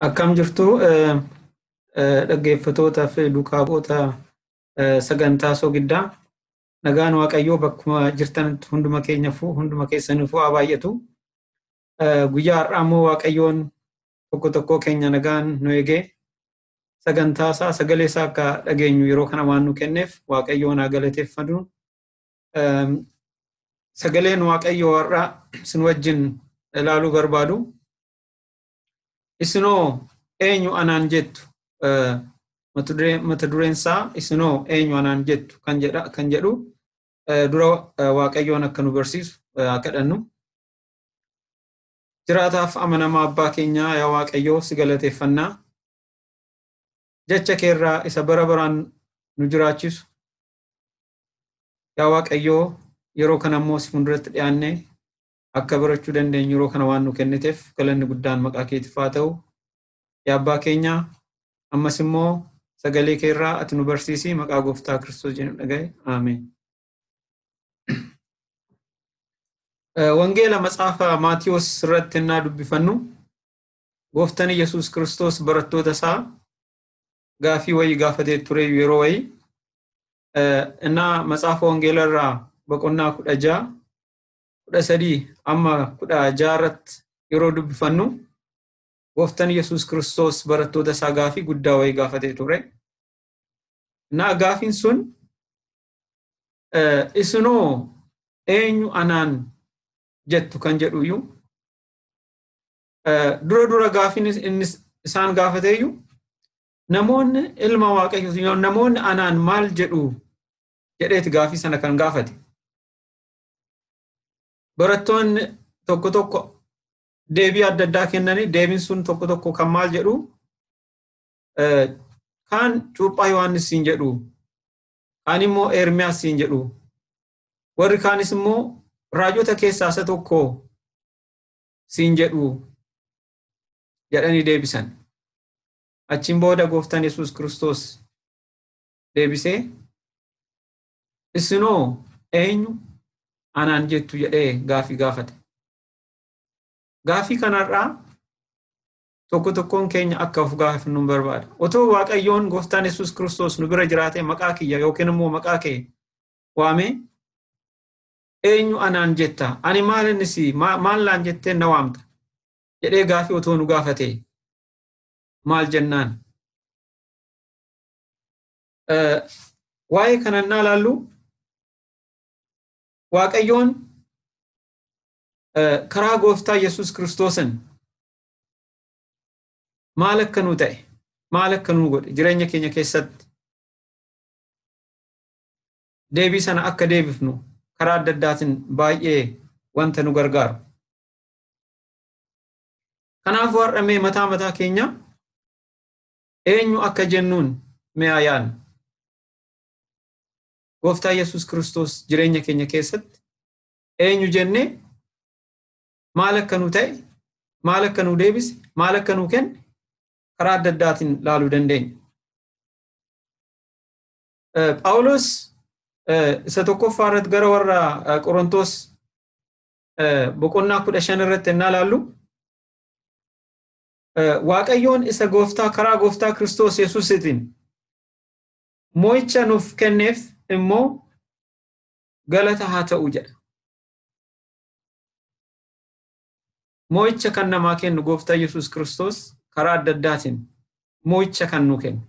Akkam jirtu dhaggeeffatootaa fi duukaa bu'oota sagantaa soogiddaa nagaan waaqayyoo bakkuma jirtan hunduma keenyafuu hunduma keessaniifuu haa baay'atu. Guyyaa har'aa immoo waaqayyoon tokko tokkoo keenya nagaan nu eegee sagantaa isaa sagalee isaa akka dhageenyu yeroo kana waan nu kenneef waaqayyoon haa galateeffatu. Sagaleen Waaqayyoo har'a isin wajjin ilaaluu barbaadu. Isinoo eenyu anaan jettu mata dureen isaa isinoo eenyu anaan jettu kan jedhu dura Waaqayyoon akka nu barsiisu haa kadhannu. Jiraataaf amanamaa abbaa keenyaa yaa Waaqayyoo si galateeffannaa. Jecha keerraa isa bara baraan nu jiraachisu Yaa Waaqayyoo yeroo kana immoo si fuulduratti dhiyaanne akka barachuu dandeenyu yeroo kana waan nu kenniteef galanni guddaan maqaa keetiif haa ta'u. Yaa abbaa keenya ammas immoo sagalee kee irraa ati nu barsiisi maqaa gooftaa Kiristoos jedhu dhagaye. Aameen. Wangeela matsaafa Maatiyoos irratti innaa dubbifannu gooftan Yesuus Kiristoos barattoota isaa gaafii wayii gaafatee ture yeroo wayii innaa matsaafa wangeela irraa boqonnaa kudha ja'a kudha sadii amma kudha ja'a irratti yeroo dubbifannu gooftan yesus kiristoos barattoota isaa gaafii guddaa wayii gaafatee ture innaa gaafiin sun isinoo eenyu anaan jettu kan jedhuyyuu Dura dura gaafiin inni isaan gaafateeyyu namoonni ilma waaqayyoo namoonni anaan maal jedhu jedheeti gaafii sana kan gaafate. Barattoonni tokko tokko deebii adda addaa kennanii deebiin sun tokko tokko kan maal jedhu kaan cuuphaa Yohaannis siin jedhu kaan immoo Eermiyaas siin jedhu warri kaanis immoo raajota keessaa isa tokko siin jedhuu? jedhanii deebisan. Achiin booda gooftaan Yesuus Kiristoos deebisee isinoo eenyu anaan jettu jedhee gaafii gaafate. Gaafii kanarraa tokko tokkoon keenya akka of gaafannu nu barbaada. Otoo Waaqayyoon gooftaan Yesuus Kiristoos nu bira jiraatee maqaa kiyya yookiin immoo maqaa kee waamee eenyu anaan jetta ani maal inni si maal naan jettee na waamta jedhee gaafii otoo nu gaafatee maal jennaan waa'ee kanan naa laallu waaqayyoon karaa gooftaa yesus kiristoosin maal akka nu ta'e maal akka nu godhe jireenya keenya keessatti deebii sana akka deebifnu karaa adda addaatiin baay'ee wanta nu gargaaru. Kanaafuu har'a mee mataa mataa keenya eenyu akka jennuun mee haa yaadnu. Gooftaa Yesuus Kiristoos jireenya keenya keessatti eenyu jennee maal akka nu ta'e, maal akka nu deebise, maal akka nu kenne karaa adda addaatiin laaluu dandeenya. Phaawulos isa tokkoffaa irratti gara warra Qorontoos boqonnaa kudha shan irratti ennaa laallu Waaqayyoon isa gooftaa karaa gooftaa Kiristoos Yesuusitiin moo'icha nuuf kenneef immoo galata haa ta'u jedha. Moo'icha kan namaa kennu gooftaa Yesuus Kiristoos karaa adda addaatiin moo'icha kan nu kennu.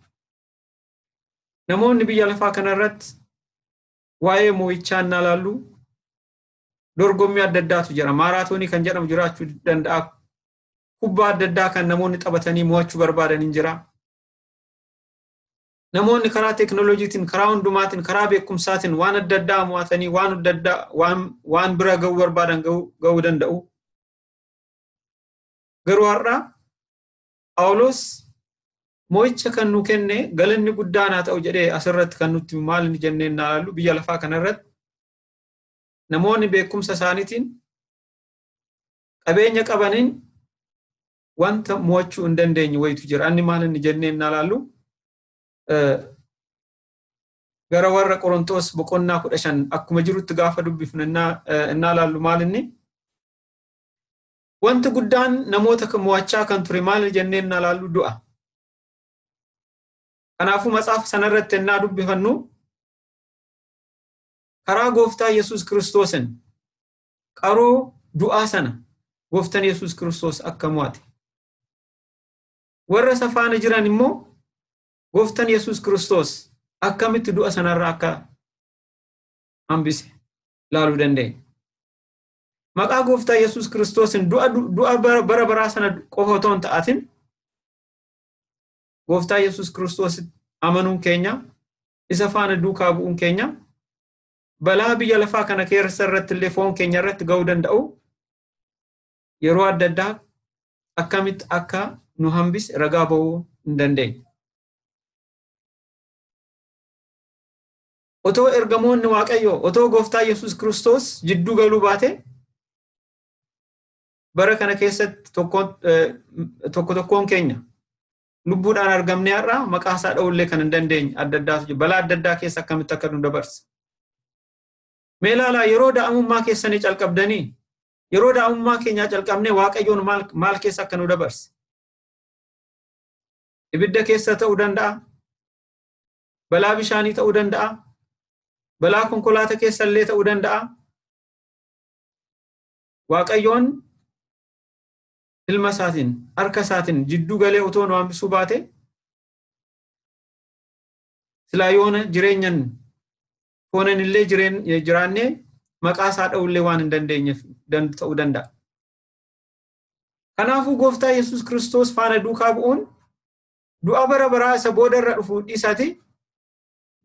Namoonni biyya lafaa kanarratti waa'ee moo'ichaa innaa laallu dorgommii adda addaatu jira. Maaraatoonii kan jedhamu jiraachuu danda'a. Kubbaa adda addaa kan namoonni taphatanii mo'achuu barbaadan hin jira. Namoonni karaa teeknooloojiitiin, karaa hundumaatiin, karaa beekumsaatiin waan adda addaa mo'atanii waan adda addaa waan, waan bira ga'uu barbaadan ga'uu danda'u. Garuu har'a Phaawulos mo'icha kan nu kenne galanni guddaan haa ta'u jedhee asirratti kan nutti maal inni jennee hin ilaallu biyya lafaa kanarratti namoonni beekumsa isaaniitiin qabeenya qabaniin wanta mo'achuu hin dandeenye wayitu jira. Anni maal inni jennee hin ilaallu gara warra Qorontoos boqonnaa kudha shan akkuma jirutti gaafa dubbifnu hin ilaallu maal inni Wanti guddaan namoota kan mo'achaa kan ture maal jennee innaa laallu du'a. Kanaafuu matsaafa sanarratti innaa dubbifannu karaa gooftaa Yesuus Kiristoosin qaroo du'aa sana gooftan Yesuus Kiristoos akka mo'ate. Warra isa faana jiran immoo gooftan Yesuus Kiristoos akkamitti du'a sanarraa akka hambise laaluu dandeenya. maqaa gooftaa Yesuus Kiristoosin du'a bara baraa sana qofa otoo hin ta'atin gooftaa Yesuus Kiristoos amanuun keenya isa faana duukaa bu'uun keenya balaa biyya lafaa kana keessa irratti illee foon keenya irratti ga'uu danda'u yeroo adda addaa akkamitti akka nu hambise ragaa ba'uu hin dandeenye. otoo ergamoonni Waaqayyoo, otoo Gooftaa Yesuus Kiristoos jidduu galuu baatee bara kana keessatti tokko tokko tokkoon keenya lubbuudhaan argamnee har'a maqaa isaa dha'ullee kan hin dandeenye adda addaatu jiru. Balaa adda addaa keessa akkamitti akka nu dabarse. Mee ilaalaa yeroo daa'imummaa keessanii calqabdanii yeroo daa'imummaa keenyaa calqabnee waaqayyoon maal keessa akka nu dabarse. Ibidda keessa ta'uu danda'a. balaa bishaanii ta'uu danda'a, balaa konkolaataa keessa illee ta'uu danda'a. Waaqayyoon ilma isaatiin harka isaatiin jidduu galee otoo nu hambisuu baate silaa yoona jireenyan foonan illee jiraannee maqaa isaa dha'uu illee waan hin dandeenyeef ta'uu danda'a. Kanaafuu gooftaa Yesuus Kiristoos faana duukaa bu'uun du'a bara baraa isa booda irra dhufu dhiisati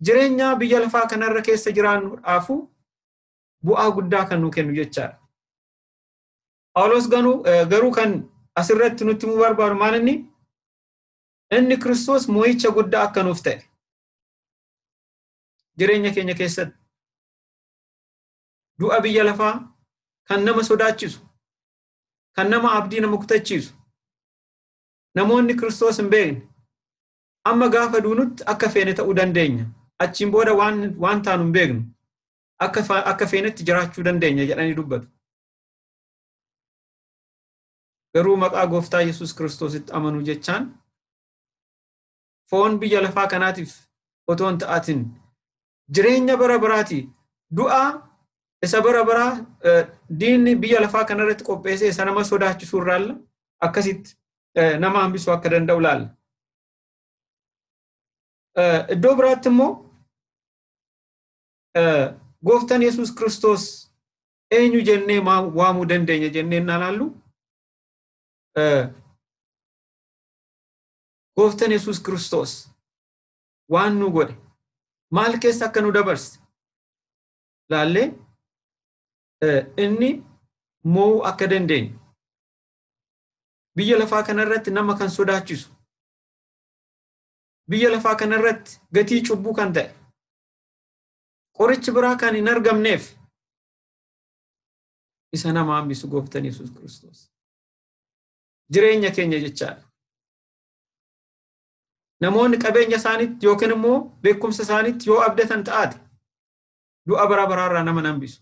jireenya biyya lafaa kanarra keessa jiraannuudhaafu bu'aa guddaa kan nu kennu jechaadha. Phaawulos garuu kan asirratti nutti himuu barbaadu maal inni? Inni Kiristoos moo'icha guddaa akka nuuf ta'e jireenya keenya keessatti du'a biyya lafaa kan nama sodaachisu kan nama abdii nama kutachiisu namoonni Kiristoos hin beekne. Amma gaafa duunutti akka feene ta'uu dandeenya. Achiin booda waan, waan taanu hin beeknu. Akka, fa- akka feenetti jiraachuu dandeenya jedhanii dubbatu. Garuu maqaa gooftaa Yesuus Kiristoositti amanuu jechaan foon biyya lafaa kanaatiif otoo hin ta'atin jireenya bara baraati du'a isa bara baraa diinni biyya lafaa kanarratti qopheessee isa nama sodaachisuu irraalla akkasitti nama hambisuu akka danda'u laalla. Iddoo biraatti immoo gooftan Yesuus Kiristoos eenyu jennee waamuu dandeenya jennee innaa laallu Gooftan Yesuus Kiristoos waan nu godhe maal keessa akka nu dabarse laallee inni moo'uu akka dandeenyu biyya lafaa kanarratti nama kan sodaachisu biyya lafaa kanarratti gatii cubbuu kan ta'e qorichi biraa kan hin argamneef isa nama hambisu gooftan Yesuus Kiristoos. jireenya keenya jechaadha. Namoonni qabeenya isaaniitti yookiin immoo beekumsa isaaniitti yoo abdatan ta'aate du'a bara baraarraa nama nambisu.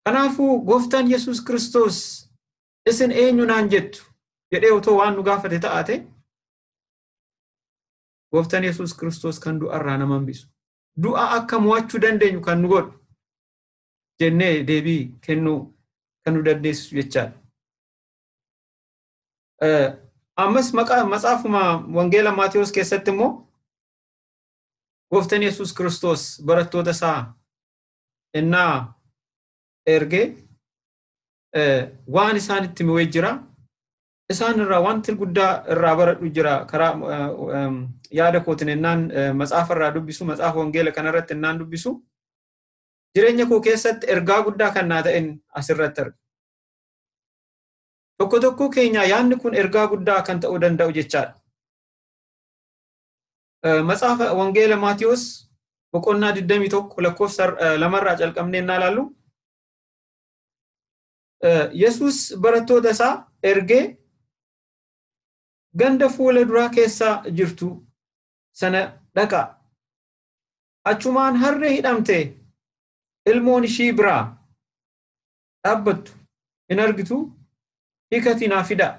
Kanaafuu gooftaan Yesuus Kiristoos isin eenyu naan jettu jedhee otoo waan nu gaafate ta'aate gooftaan Yesuus Kiristoos kan du'arraa nama hambisu. Du'a akka mo'achuu dandeenyu kan nu godhu. jennee deebii kennuu kan nu dandeessisu jechaadha. Ammas matsaafuma Wangeela Maatewos keessatti immoo gooftan Yesuus Kiristoos barattoota isaa innaa ergee waan isaan itti mi'ee jira. Isaan irraa wanti guddaa irraa baradhu jira. Karaa yaada kootiin innaan matsaafa irraa dubbisu, matsaafa wangeela kanarratti innaan dubbisu, jireenya koo keessatti ergaa guddaa kan naa ta'en asirratti arga. Tokko tokkoo keenyaa yaadni kun ergaa guddaa kan ta'uu danda'u jechaadha. Macaafa Wangeela Maatiyoos boqonnaa 21 lakkoofsa lamarraa calqabnee naa ilaallu. Yesuus barattoota isaa ergee ganda fuula duraa keessa jirtu sana dhaqaa. achumaan harree hidhamtee ilmoon ishii biraa dhaabbattu hin argitu hiikatii naa fidaa.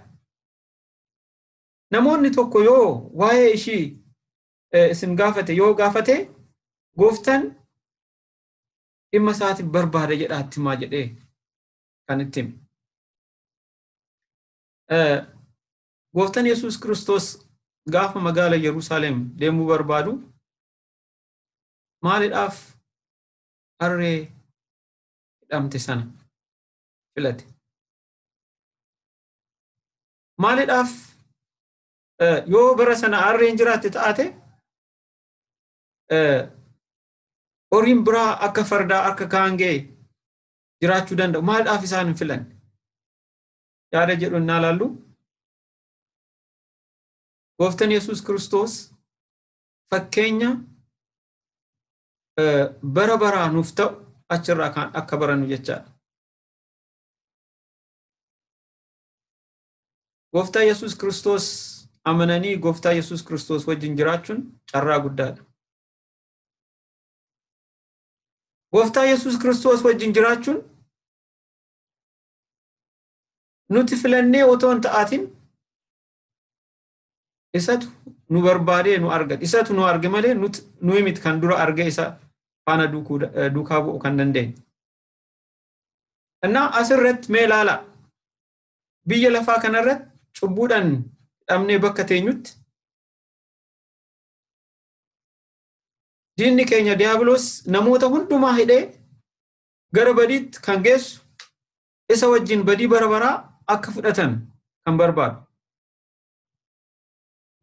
Namoonni tokko yoo waa'ee ishii isin gaafate yoo gaafate gooftan dhimma isaatiif barbaada jedhaa itti himaa jedhee kan itti hime. Gooftan Yesuus Kiristoos gaafa magaala Yerusaalem deemuu barbaadu maalidhaaf harree hidhamte sana filate? Maalidhaaf yoo bara sana harreen jiraatte taate horiin biraa akka fardaa akka kaangee jiraachuu danda'u maalidhaaf isaan hin filanne? Yaada jedhu innaa laallu gooftan Yesuus Kiristoos fakkeenya bara baraa nuuf ta'u achirraa kan akka barannu jechaadha. Gooftaa Yesuus Kiristoos amananii Gooftaa Yesuus Kiristoos wajjin jiraachuun carraa guddaadha. Gooftaa Yesuus Kiristoos wajjin jiraachuun nuti filannee otoo hin ta'atin Isatu nu barbaadee nu argate. Isatu nu arge malee nuyi miti kan dura arge isa faana duukaa bu'u kan dandeenye. Innaa asirratti mee ilaalaa. Biyya lafaa kanarratti cubbuudhaan hidhamnee bakka teenyutti diinni keenya diyaabiloos namoota hundumaa hidhee gara badiitti kan geessu isa wajjin badii bara baraa akka fudhatan kan barbaadu.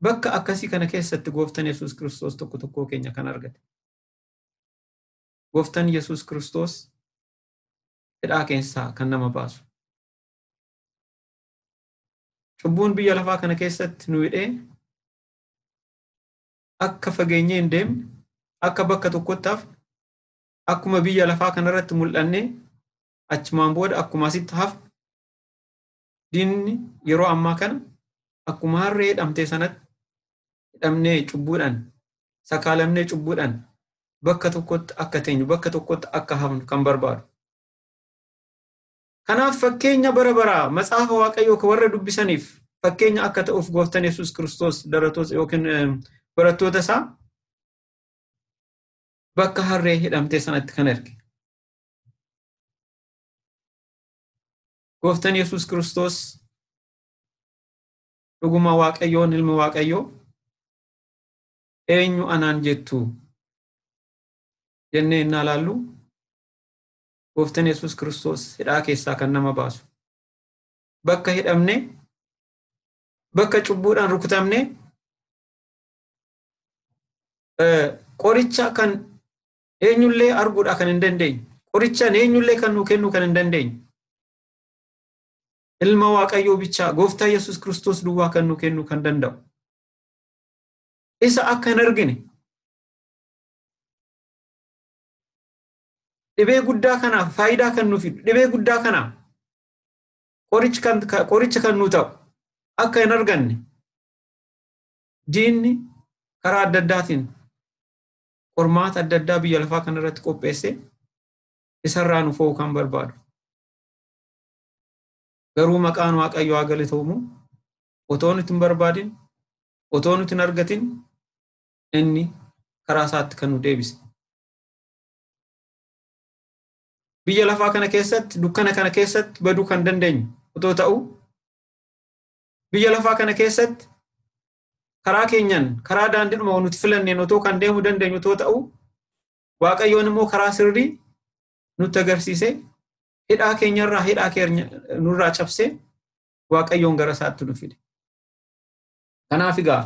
Bakka akkasii kana keessatti gooftan Yesuus Kiristoos tokko tokkoo keenya kan argate. Gooftan Yesuus Kiristoos hidhaa keessaa kan nama baasu. Cubbuun biyya lafaa kana keessatti nu hidhee akka fageenyee hin deemne, akka bakka tokkotti hafne, akkuma biyya lafaa kanarratti mul'annee achumaan booda akkuma asitti hafne diinni yeroo ammaa kana akkuma harree hidhamtee sanatti hidhamnee cubbuudhaan sakaalamnee cubbuudhaan bakka tokkotti akka teenyu bakka tokkotti akka hafnu kan barbaadu. Kanaaf fakkeenya bara baraa macaafa waaqayyoo kan warra dubbisaniif fakkeenya akka ta'uuf gooftan Yesuus Kiristoos daratoota yookiin barattoota isaa bakka harree hidhamtee sanatti kan erge. Gooftan Yesuus Kiristoos dhuguma Waaqayyoon ilma Waaqayyoo eenyu anaan jettu jennee innaa laallu Gooftan Yesuus Kiristoos hidhaa keessaa kan nama baasu. Bakka hidhamne, bakka cubbuudhaan rukutamne, qoricha kan eenyullee arguudhaa kan hin dandeenye qorichaan eenyullee kan nuu kennuu kan hin dandeenye ilma waaqayyoo bichaa gooftaa yesus kiristoos duwwaa kan nuu kennuu kan danda'u isa akka hin argine dhibee guddaa kanaaf faayidaa kan nuuf fidu dhibee guddaa kanaaf qoricha kan nuu ta'u akka hin arganne diinni karaa adda addaatiin qormaata adda addaa biyya lafaa kana irratti qopheesse isarraa nu fo'uu kan barbaadu. Garuu maqaan Waaqayyoo haa galatoomu otoo nuti hin barbaadin otoo nuti hin argatin inni karaa isaatti kan nu deebise. Biyya lafaa kana keessatti dukkana kana keessatti baduu kan dandeenyu otoo ta'u biyya lafaa kana keessatti karaa keenyan karaa daandiidhuma nuti filanneen otoo kan deemu dandeenyu otoo ta'u waaqayyoon immoo karaa sirrii nutti agarsiise hidhaa keenyarraa hidhaa keenya nurraa cabsee waaqayyoon gara isaatti nu fide. Kanaaf egaa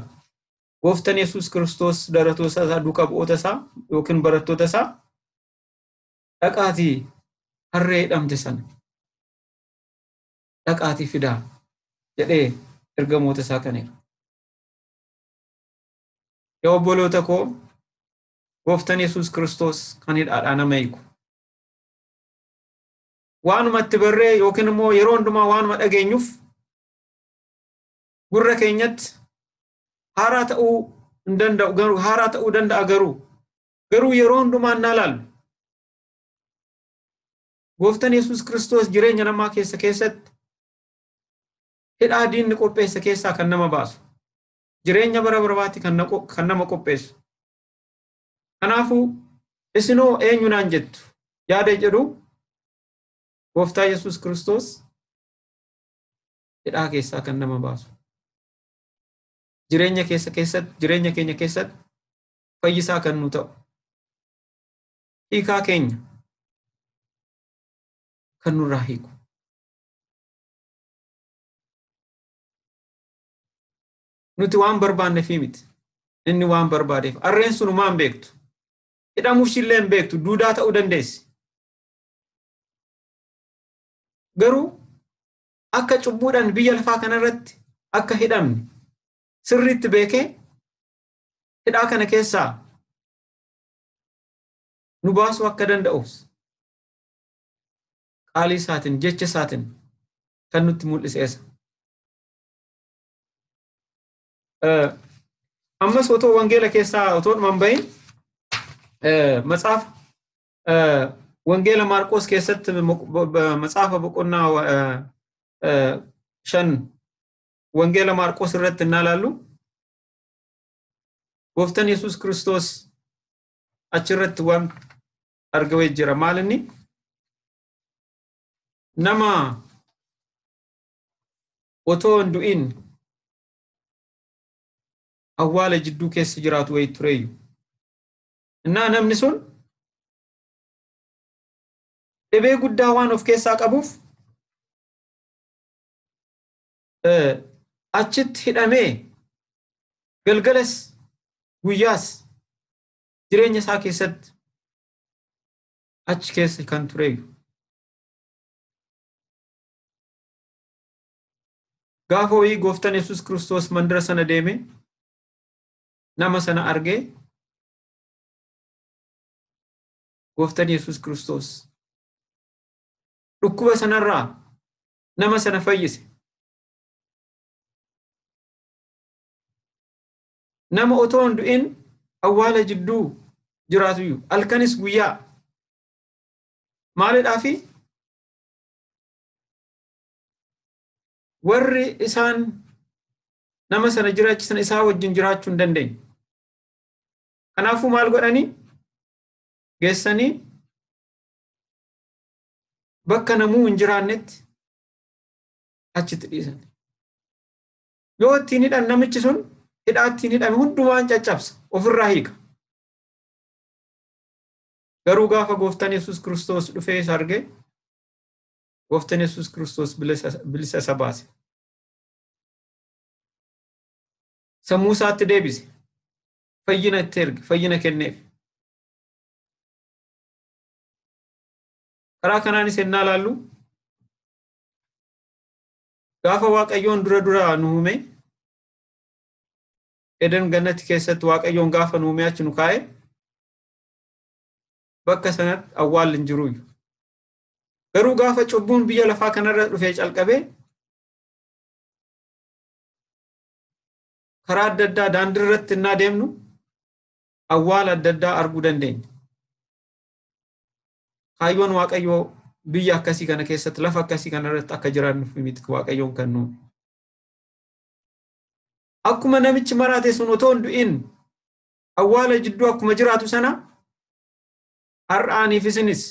gooftan Yesuus Kiristoos daratoota isaa duuka bu'oota isaa yookiin barattoota isaa dhaqaatii harree hidhamte sana dhaqaatii fidaa jedhee ergamoota isaa kan erge. Yaa obboloota koo gooftan Yesuus Kiristoos kan hidhaadhaa nama hiiku. Waanuma itti barree yookiin immoo yeroo hundumaa waanuma dhageenyuuf gurra keenyatti haaraa ta'uu hin danda'u garuu haaraa ta'uu danda'a garuu garuu yeroo hundumaa hin ilaallu. Gooftan Yesuus Kiristoos jireenya namaa keessa keessatti hidhaa diinni qopheesse keessaa kan nama baasu. Jireenya bara barabaatti kan nama qopheessu. Kanaafuu isinoo eenyu naan jettu yaada jedhu Gooftaa Yesuus Kiristoos hidhaa keessaa kan nama baasu. Jireenya keessa keessatti jireenya keenya keessatti fayyisaa kan nu ta'u. hiikaa keenya kan nurraa hiiku. Nuti waan barbaanneefii miti. Inni waan barbaadeef. Harreen sun homaa hin beektu. Hidhamuu ishiillee hin beektu. Duudaa ta'uu dandeessi. Garuu akka cubbuudhaan biyya lafaa kanarratti akka hidhamne sirriitti beekee hidhaa kana keessaa nu baasuu akka danda'uuf qaalii isaatiin jecha isaatiin kan nutti mul'iseessa. Ammas otoo wangeela keessaa otoo dhuman bahin matsaafa wangeela Maarqoos keessatti matsaafa boqonnaa shan wangeela Maarqoos irratti innaa ilaallu Gooftan Yesuus Kiristoos achirratti waan argawee jira. Maal inni? Nama otoo hin du'in awwaala jidduu keessa jiraatu wayii tureeyyu. Innaa namni sun dhibee guddaa waan of keessaa qabuuf achitti hidhamee galgalas guyyaas jireenya isaa keessatti achi keessa kan tureeyyu. Gaafa wayii gooftan Yesuus Kiristoos mandara sana deeme nama sana argee gooftan Yesuus Kiristoos dhukkuba sanarraa nama sana fayyise. Nama otoo hin du'in awwaala jidduu jiraatu iyyuu halkanis guyyaa maalidhaa fi warri isaan nama sana jiraachisan isaa wajjin jiraachuu hin dandeenye. Kanaafuu maal godhanii geessanii bakka namuu hin jiraannetti achitti dhiisan. Yoo ittiin hidhan namichi sun hidhaa ittiin hidhame hundumaan caccabsa ofirraa hiika. Garuu gaafa gooftan Yesuus Kiristoos dhufee isa arge gooftan Yesuus Kiristoos bilisa isa baase. Sammuu isaatti deebise. Fayyina itti erge, fayyina kenneef. Karaa kanaanis ennaa laallu gaafa Waaqayyoon dura duraa nu uume Eden gannatti keessatti Waaqayyoon gaafa nu uume achi nu kaa'e bakka sanatti awwaalli hin jiruuyyu. Garuu gaafa cubbuun biyya lafaa kanarra dhufee calqabee karaa adda addaa daandii irratti innaa deemnu awwaala adda addaa arguu dandeenya. Kaayyoon Waaqayyoo biyya akkasii kana keessatti lafa akkasii kana irratti akka jiraannuuf miti Waaqayyoon kan nu. Akkuma namichi maraate sun otoo hin du'in awwaala jidduu akkuma jiraatu sana har'aaniif isinis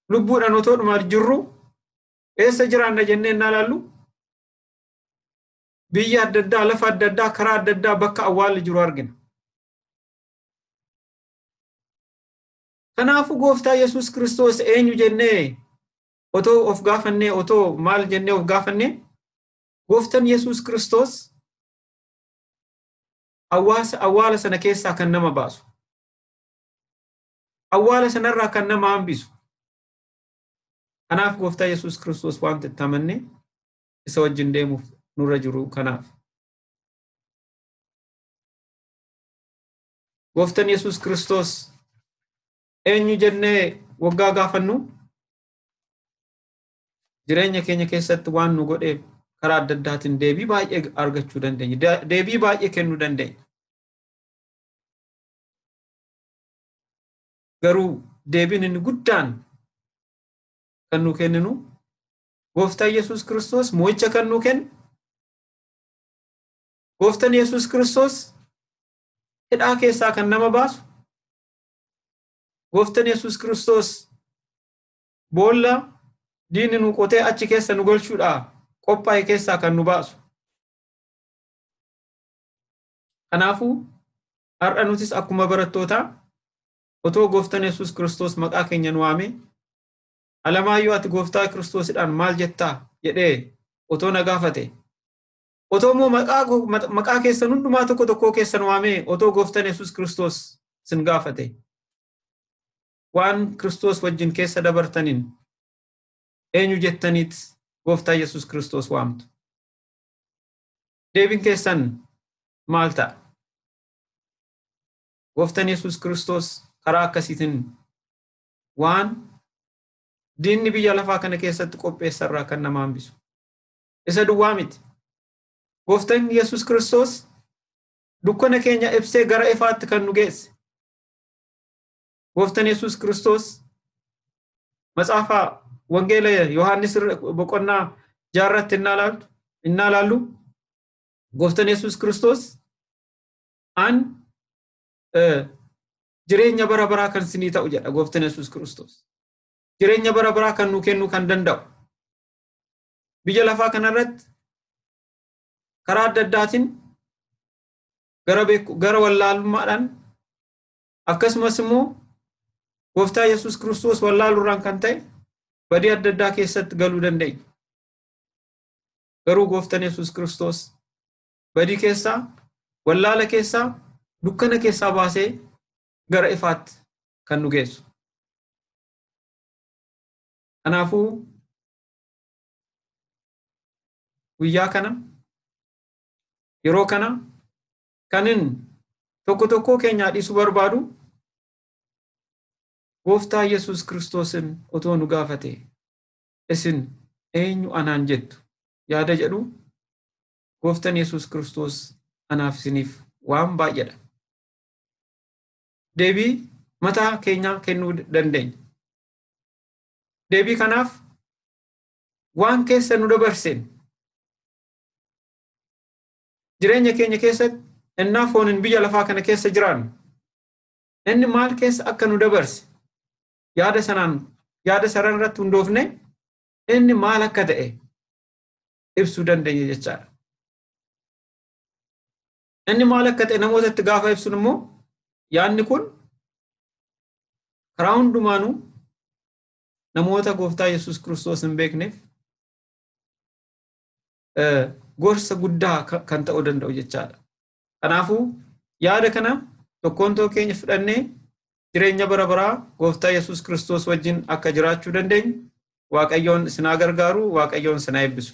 lubbuudhaan otoo dhumaa jirru eessa jiraanna jennee innaa ilaallu biyya adda addaa lafa adda addaa karaa adda addaa bakka awwaalli jiru argina. Kanaafuu gooftaa Yesuus Kiristoos eenyu jennee otoo of gaafannee otoo maal jennee of gaafannee gooftan Yesuus Kiristoos hawaasa awwaala sana keessaa kan nama baasu awwaala sanarraa kan nama hambisu kanaaf gooftaa Yesuus Kiristoos wanta itti amannee isa wajjin deemuuf nurra jiru kanaaf. Gooftan Yesuus Kiristoos eenyu jennee waggaa gaafannu jireenya keenya keessatti waan nu godheef karaa adda addaatiin deebii baay'ee argachuu dandeenya. Deebii baay'ee kennuu dandeenya. Garuu deebiin inni guddaan kan nu kenninu gooftaa Yesuus Kiristoos mo'icha kan nu kennu Gooftan Yesuus Kiristoos hidhaa keessaa kan nama baasu, Gooftan Yesuus Kiristoos boolla diinni nu qotee achi keessa nu galchuudhaa qophaa'e keessaa kan nu baasu. Kanaafuu har'a nutis akkuma barattootaa otoo gooftan Yesuus Kiristoos maqaa keenya nu waamee Alamaayyoo ati gooftaa Kiristoosidhaan maal jettaa jedhee otoo na gaafate Otoo immoo maqaa koo- ma- maqaa keessan hundumaa tokko tokkoo keessan waamee otoo gooftan Yesuus Kiristoos sin gaafate. Waan Kiristoos wajjin keessa dabartaniin eenyu jettaniit gooftaa Yesuus Kiristoos waamtu. Deebiin keessan maal ta'a? Gooftan Yesuus Kiristoos karaa akkasiitiin waan diinni biyya lafaa kana keessatti qopheessarraa kan nama hambisu. Isa duwwaa miti. Gooftaan Yesuus Kiristoos dukkana keenya ibsee gara ifaatti kan nu geesse. Gooftaan Yesuus Kiristoos macaafa wangeela Yohaannis boqonnaa jaarratti innaa laaltu innaa laallu gooftaan Yesuus Kiristoos an jireenya bara baraa kan sinii ta'u jedha gooftaan Yesuus Kiristoos. Jireenya bara baraa kan nu kennuu kan danda'u. biyya lafaa kanarratti karaa adda addaatiin gara beeku gara wallaalummaadhaan akkasumas immoo gooftaa Yesuus Kiristoos wallaaluurraan kan ta'e badii adda addaa keessatti galuu dandeenya. Garuu gooftaan Yesuus Kiristoos badii keessaa, wallaala keessaa, dukkana keessaa baasee gara ifaatti kan nu geessu. Kanaafuu guyyaa kana yeroo kana kanin tokko tokkoo keenyaa dhiisuu barbaadu gooftaa Yesuus Kiristoosin otoo nu gaafate isin eenyu anaan jettu yaada jedhu gooftan Yesuus Kiristoos anaaf isiniif waan baay'eedha. Deebii mataa keenyaa kennuu dandeenya. Deebii kanaaf waan keessa nu dabarseen jireenya keenya keessatti ennaa fooniin biyya lafaa kana keessa jiraannu inni maal keessa akka nu dabarse yaada sanaan yaada saran irratti hundoofne inni maal akka ta'e ibsuu dandeenya jechaadha. Inni maal akka ta'e namootatti gaafa ibsun immoo yaadni kun karaa hundumaanuu namoota gooftaa Yesuus Kiristoos hin beekneef gorsa guddaa kan ta'uu danda'u jechaadha. Kanaafuu yaada kana tokkoon tokkoo keenya fudhannee jireenya bara baraa gooftaa Yesuus Kiristoos wajjin akka jiraachuu dandeenyu Waaqayyoon isin haa gargaaru, Waaqayyoon isin haa eebbisu.